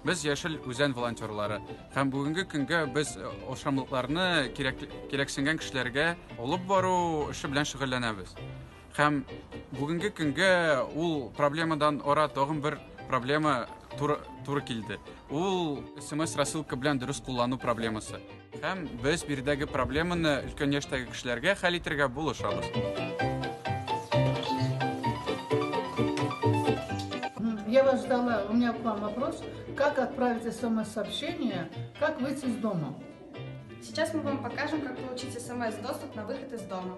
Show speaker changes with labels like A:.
A: Без яшел үзән волонтерлары һәм бүгенге көнгә без э, ашамлыкларны кирәк кирәксенгән кешеләргә алып бару эше белән шөгыльләнәбез. Һәм бүгенге көнгә ул проблемадан ара тагын бер проблема туры, туры килде. Ул смс рассылка белән дөрес куллану проблемасы. Һәм без биредәге проблеманы өлкән яшьтәге кешеләргә хәл итергә булышабыз.
B: Я вас ждала, у меня к вам вопрос. Как отправить смс-сообщение, как выйти из дома? Сейчас мы
C: вам покажем, как получить смс-доступ на выход из дома.